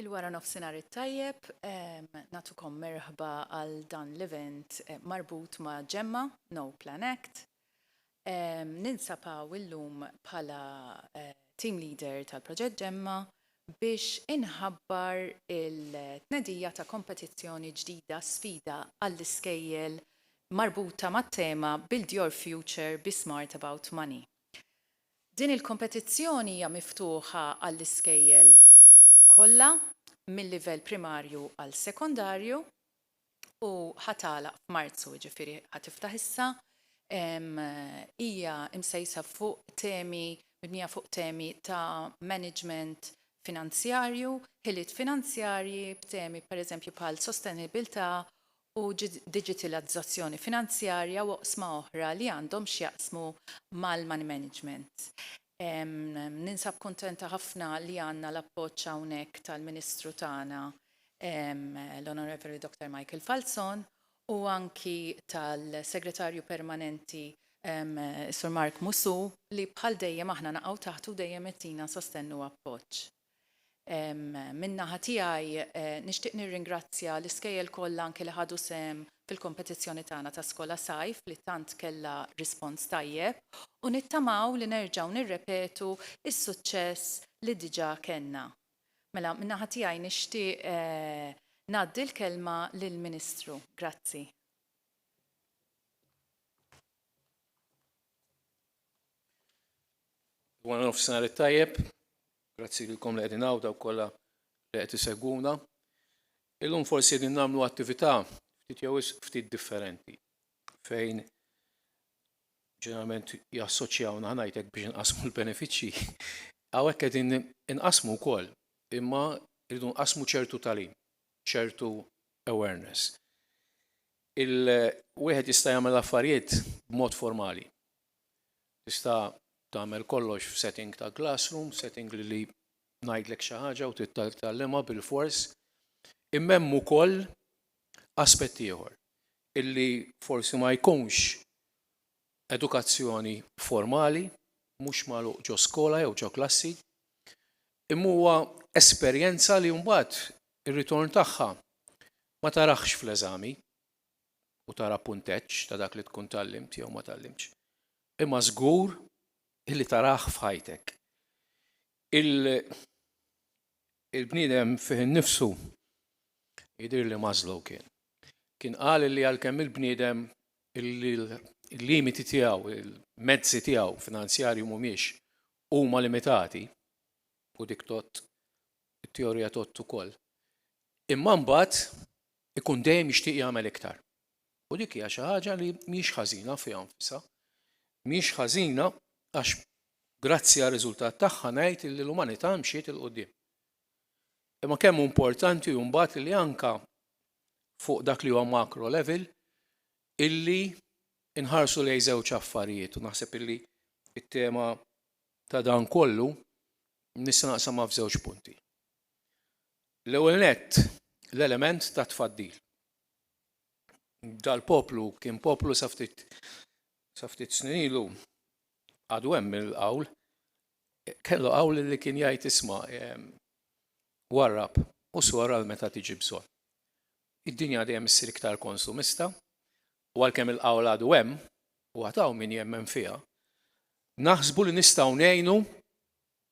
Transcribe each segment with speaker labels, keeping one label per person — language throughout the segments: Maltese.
Speaker 1: Il-wara nofsinhar it-tajjeb, nagħtukom merħba għal dan l-event marbut ma' Gemma, No Plan Act. Ninsab hawn illum bħala Team Leader tal-Proġett Gemma biex inħabbar il-tnedija ta' kompetizzjoni ġdida Sfida għall-iskejjel marbuta mat-tema Build Your Future, Be Smart About Money. Din il-kompetizzjoni hija miftuħa għall-iskejjel kollha mil-livell primarju għal sekondarju u ħa tagħlaq f'Marzu, jiġifieri ħa tiftaħ issa. Hija msejsa fuq temi, mibnija fuq temi ta' maniġment finanzjarju, ħiliet finanzjarji b'temi pereżempju bħal sostenibilità u diġitilazzazzjoni finanzjarja u oqsma oħra li għandhom x'jaqsmu mal-money management. Ninsab kuntenta ħafna li għandna l-appoġġ hawnhekk tal-Ministru tagħna l-Onorevoli Dottor Michael Falzon u anki tal-Segretarju Permanenti Sur Mark Musù li bħal dejjem aħna naqgħu taħtu u dejjem itina sostenn u appoġġ. Min-naħa tiegħi nixtieq nirringrazzja l-iskejjel kollha anke li ħadu sehem fil-kompetizzjoni tagħna ta' Skola Sajf li tant kellha rispons tajjeb u nittamaw li nerġgħu nirrepetu s-suċċess li diġà kellna. Mela min-naħa tiegħi nixtieq ngħaddi l-kelma lill-Ministru. Grazzi. Wara nofsinhar it-tajjeb, grazzi lilkom li qegħdin hawn dawk kollha li qed isegwuna. Illum forsi qegħdin nagħmlu attività ftit jew ftit differenti fejn ġeneralment jassoċjawna ħanajtek biex inqasmu l-benefiċċji. Hawnhekk qegħdin inqasmu wkoll, imma rridu nqasmu ċertu tagħlim, ċertu awareness. Il, wieħed jista' jagħmel l-affarijiet b'mod formali. Tista' tagħmel kollox f'setting ta' classroom, setting li ngħidlek xi ħaġa u trid titgħallimha bilfors. Imma hemm ukoll aspett ieħor illi forsi ma jkunx edukazzjoni formali, mhux magħluq ġo skola jew ġo klassi, imma huwa esperjenza li mbagħad ir-ritorn tagħha Ma taraħx fl-eżami u tara punteġġ ta' dak li tkun tgħallimt jew ma tgħallimtx, imma żgur li tarah f'ħajtek. Il il-bniedem fih innifsu jidhir li Maslow kien kien qal li għalkemm il-bniedem il-limiti tiegħu, il-mezzi tiegħu finanzjarji mhumiex huma limitati u dik tgħodd it-teorija tgħodd ukoll. Imma mbagħad ikun dejjem jixtieq jagħmel iktar. U dik hija xi ħaġa li mhijiex ħażina fiha nfisha. Mhijiex ħażina għax grazzi għar-riżultat tagħha ngħid li l-umanità mxiet 'il quddiem. Imma kemm hu importanti hu mbagħad li anke fuq dak li huwa macro level illi nħarsu lejn żewġ affarijiet u naħseb illi t-tema ta' dan kollu nista' naqsamha f'żewġ punti. L-ewwel nett, l-element ta' tfaddil. Dal-poplu kien poplu sa ftit sa ftit snin ilu għadu hemm il-qawl kellu qawl li kien jgħid isma' warrab u sor għal meta tiġi bżonn. Id-dinja dejjem issir iktar konsumista, U għalkemm il-qawl għadu hemm, u għad hawn min jemmen fiha, naħsbu li nistgħu ngħinu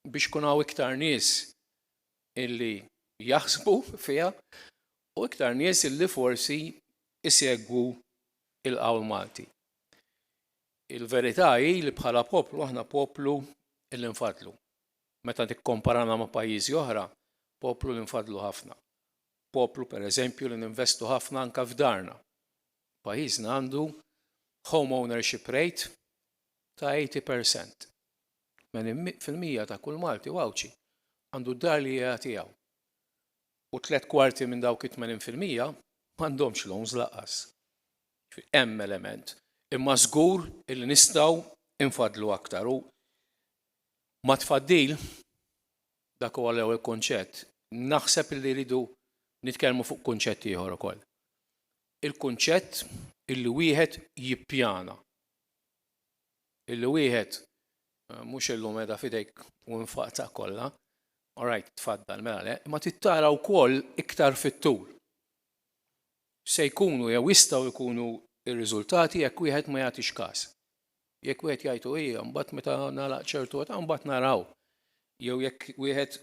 Speaker 1: biex ikun hawn iktar nies illi jaħsbu fiha u iktar nies illi forsi jsegwu l-qawl Malti. Il-verità hi li bħala poplu aħna poplu illi nfaddlu. Meta tikkomparana ma' pajjiżi oħra, poplu li nfaddlu ħafna. Poplu, per eżempju, li ninvestu ħafna anke f'darna. Pajjiżna għandu home ownership rate ta' eighty per cent. Tmenin fil-mija ta' kull Malti u Għawdxi għandu d-dar li hija tiegħu. U tliet kwarti minn dawk it-tmenin fil-mija m'għandhomx loans lanqas. Ġifieri hemm element. Imma żgur illi nistgħu infaddlu aktar u mat-tfaddil Dak huwa l-ewwel kunċett. Naħseb li rridu nitkellmu fuq kunċett ieħor ukoll. Il-kunċett illi wieħed jippjana. Illi wieħed mhux illum qiegħda f'idejk u nfaqtha kollha, all right, tfaddal, mela le, imma trid tara wkoll iktar fit-tul. Se jkunu jew jistgħu jkunu r-riżultati jekk wieħed ma jagħtix każ. Jekk wieħed jgħid u hija, mbagħad meta nagħlaq ċertu età mbagħad naraw. Jew jekk wieħed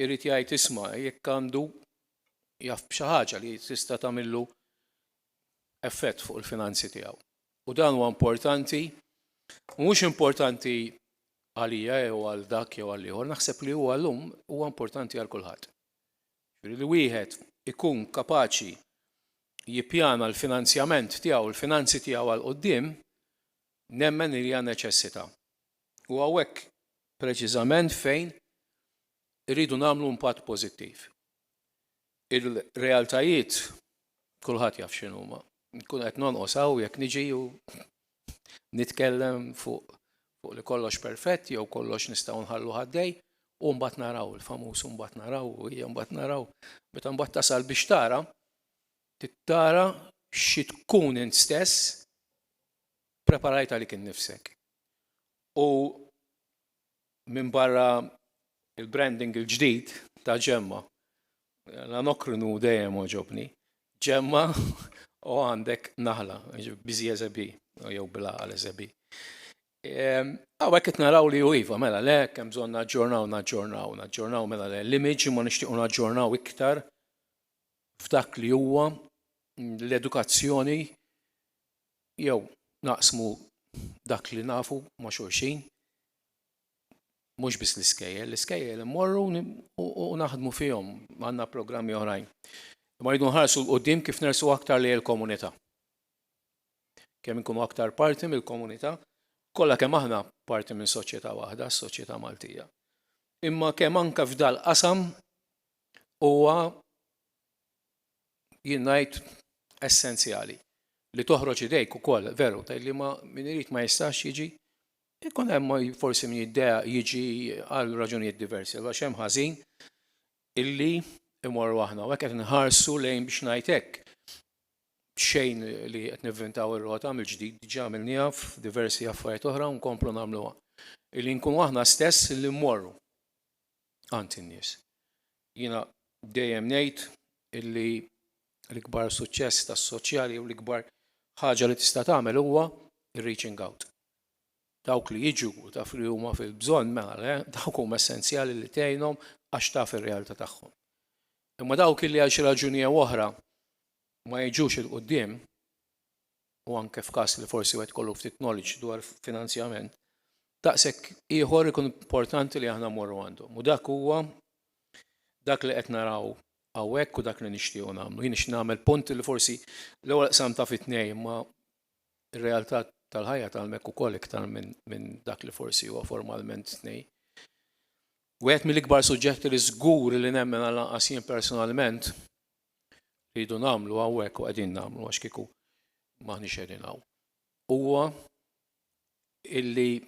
Speaker 1: irid jgħid isma' jekk għandu jaf b'xi ħaġa li tista' tagħmillu effett fuq il-finanzi tiegħu. U dan huwa importanti, mhux importanti għalija jew għal dak jew għal ieħor, naħseb li huwa llum huwa importanti għal kulħadd. jiġifieri li wieħed ikun kapaċi jippjana l-finanzjament tiegħu, l-finanzi tiegħu għal quddiem, nemmen li hija neċessità. U hawnhekk preċiżament fejn irridu nagħmlu impatt pożittiv. Ir-realtajiet kulħadd jaf x'inhuma. Inkun qed nonqos hawn jekk niġi u nitkellem fuq fuq li kollox perfett jew kollox nistgħu nħallu ħaddej u mbagħad naraw il-famuż u mbagħad naraw u hija mbagħad naraw meta mbagħad tasal biex tara tittara xi tkun int stess preparajt għalik innifsek. U Minbarra l-branding il-ġdid ta' Gemma, l-Anokrin hu dejjem għoġobni. Gemma u għandek naħla, busy as a bee, jew bil-għaqal as a bee. Hawnhekk qed naraw li hu iva, mela le, hekk hemm bżonn naġġornaw, naġġornaw, naġġornaw mela le l-image imma nixtiequ naġġornaw iktar f'dak li huwa l-edukazzjoni jew naqsmu dak li nafu ma' xulxin. mhux biss l-iskejjel, l-iskejjel immorru u naħdmu fihom, għandna programmi oħrajn. Ma rridu nħarsu l-qudiem kif nersu aktar li l-komunità. Kemm inkunu aktar parti mill-komunità, kollha kemm aħna parti minn soċjetà waħda, s-soċjetà Maltija. Imma kemm anke f'dal qasam huwa jien ngħid essenzjali li toħroġ idejk ukoll veru tgħid li ma min irid ma jistax jiġi Ikun hemm forsi min jiddejjaq jiġi għal raġunijiet diversi, allura x'hemm ħażin illi mmorru aħna u hekk qed inħarsu lejn biex ngħid hekk, b'xejn li qed nivvintaw ir-rota mill-ġdid, diġà għamilniha f'diversi affarijiet oħra u nkomplu nagħmluha, illi nkunu aħna stess illi mmorru għand in-nies. Jiena dejjem ngħid illi l-ikbar suċċess tas-soċjali jew l-ikbar ħaġa li tista' tagħmel huwa r-reaching out. Dawk li jiġu u taf li huma fil-bżonn mela le, dawk huma essenzjali li tgħinhom għax taf ir-realtà tagħhom. Imma dawk illi għal xi raġuni jew oħra ma jiġux 'il quddiem, u anke f'każ li forsi wieħed ikollu ftit knowledge dwar finanzjament, daqshekk ieħor ikun importanti li aħna mmorru għandhom. U dak huwa dak li qed naraw hawnhekk u dak li nixtiequ nagħmlu. Jien nixtieq nagħmel punt li forsi l-ewwel qsamtha fi tnejn imma Ir-realtà tal-ħajja tgħallmek ukoll iktar minn dak li forsi huwa formalment tnej. Wieħed mill-ikbar suġġetti li żgur li nemmen għal anqas jien personalment li jdu nagħmlu hawnhekk u qegħdin nagħmlu għax kieku m'aħniex qegħdin hawn. Huwa illi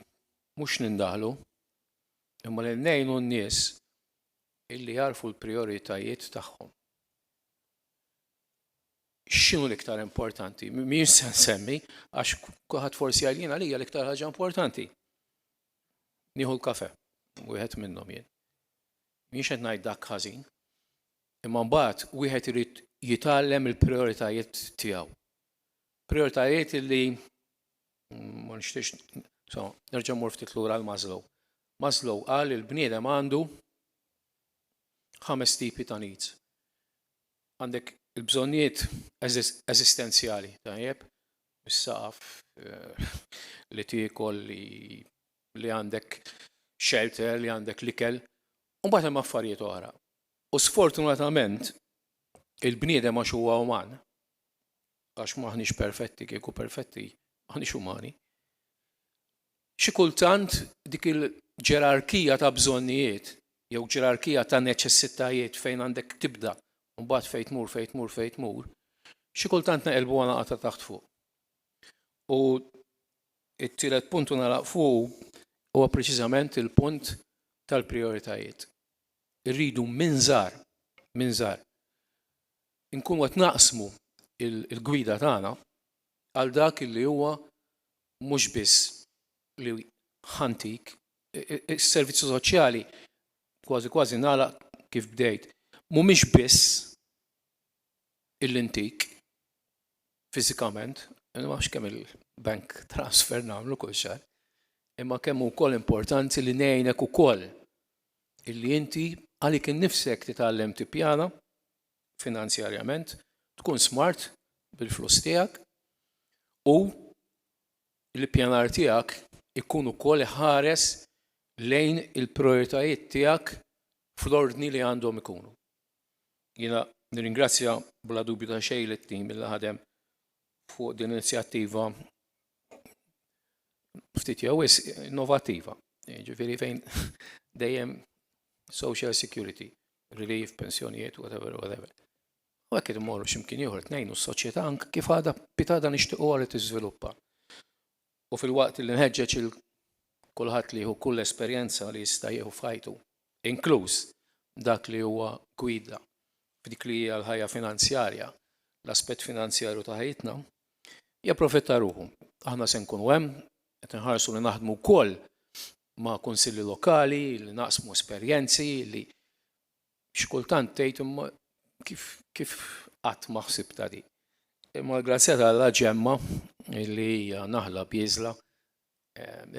Speaker 1: mhux nindaħlu imma li ngħinu n-nies illi jarfu l-prijoritajiet tagħhom. x'inhu l-iktar importanti? Mhijiex se nsemmi għax kulħadd forsi għal jien għalija l-iktar ħaġa importanti. Nieħu l-kafe, wieħed minnhom jien. Mhijiex qed ngħid dak ħażin. Imma mbagħad wieħed irid jitgħallem il-prioritajiet tiegħu. Prioritajiet li ma nixtiex so, nerġa' mur ftit lura għal Maslow. Maslow qal il-bniedem għandu ħames tipi ta' needs. Għandek il-bżonnijiet eżistenzjali, tajjeb, is-saqaf li tiekol, li għandek shelter, li għandek l-ikel, u mbagħad hemm affarijiet oħra. U sfortunatament il-bniedem għax huwa uman, għax m'aħniex perfetti, kieku perfetti m'aħniex umani, Xi kultant dik il-ġerarkija ta' bżonnijiet jew ġerarkija ta' neċessitajiet fejn għandek tibda u mbagħad fejn tmur, fejn tmur, fejn tmur, xi kultant neqilbuha nagħlaq ta' taħt fuq. U t-tielet punt u nagħlaq fuqu huwa preċiżament il-punt tal-prijoritajiet. Irridu minn żgħar, minn żgħar, inkunu qed naqsmu l-gwida tagħna għal dak li huwa mhux biss li ħantik is-servizzi soċjali kważi kważi nagħlaq kif bdejt. Mhumiex biss illi ntik fiżikament, ma nafx kemm il-bank transfer nagħmlu kull xahar, imma kemm hu wkoll importanti li ngħinek ukoll illi inti għalik innifsek titgħallem tippjana, finanzjarjament, tkun smart bil-flus tiegħek u l-ippjanar tiegħek ikun ukoll iħares lejn il-prijoritajiet tiegħek fl-ordni li għandhom ikunu. Jiena nirringrazzja bla dubju ta' xejn lit-tim li ħadem fuq din l-inizjattiva ftit jew wisq innovattiva, jiġifieri fejn dejjem social security relief, pensjonijiet, whatever, whatever. U għek id-morru ximkien juħor t-nejnu s-soċieta ank kif għada pitada nishtiqu għal t-izviluppa. U fil-waqt li nħedġeċ il-kulħat li hu kull esperienza li jista jieħu fajtu, inkluż dak li huwa gwida f'dik li hija l-ħajja finanzjarja, l-aspett finanzjarju ta' ħajjitna, japprofitta ruħu. Aħna se nkunu hemm, qed inħarsu li naħdmu wkoll ma' kunsilli lokali li naqsmu esperjenzi li xi kultant tgħid imma kif kif qatt ma ħsibtha din. Imma l-grazzja ta' Alla Ġemma li hija naħla bieżla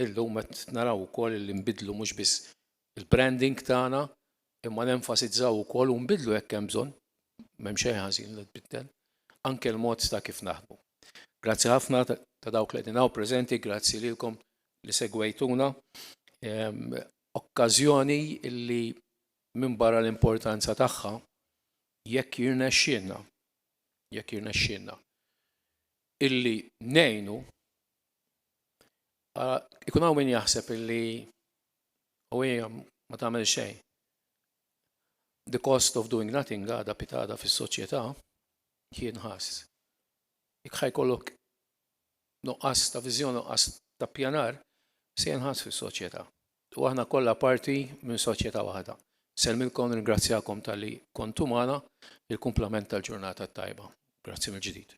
Speaker 1: illum qed naraw ukoll li nbiddlu mhux biss il-branding tagħna imma nenfasizzaw ukoll u nbiddlu jekk hemm bżonn, m'hemm xejn ħażin li tbiddel, anke l-mod ta' kif naħdmu. Grazzi ħafna ta' dawk li qegħdin hawn preżenti, grazzi lilkom li segwejtuna. Okkażjoni li minbarra l-importanza tagħha, jekk jirnexxielna, jekk jirnexxielna illi ngħinu, ikun hawn min jaħseb illi u hija ma tagħmel xejn. The cost of doing nothing għadha pitada fis-soċjetà, kien ħass. Jekk ħa jkollok nuqqas ta' viżjoni, nuqqas ta' ppjanar, se jinħass fis-soċjetà. U aħna kollha parti minn soċjetà waħda. Nsellmilkom, nirringrazzjakom talli kontu magħna, il-kumplament tal-ġurnata t-tajba. Grazzi mill-ġdid.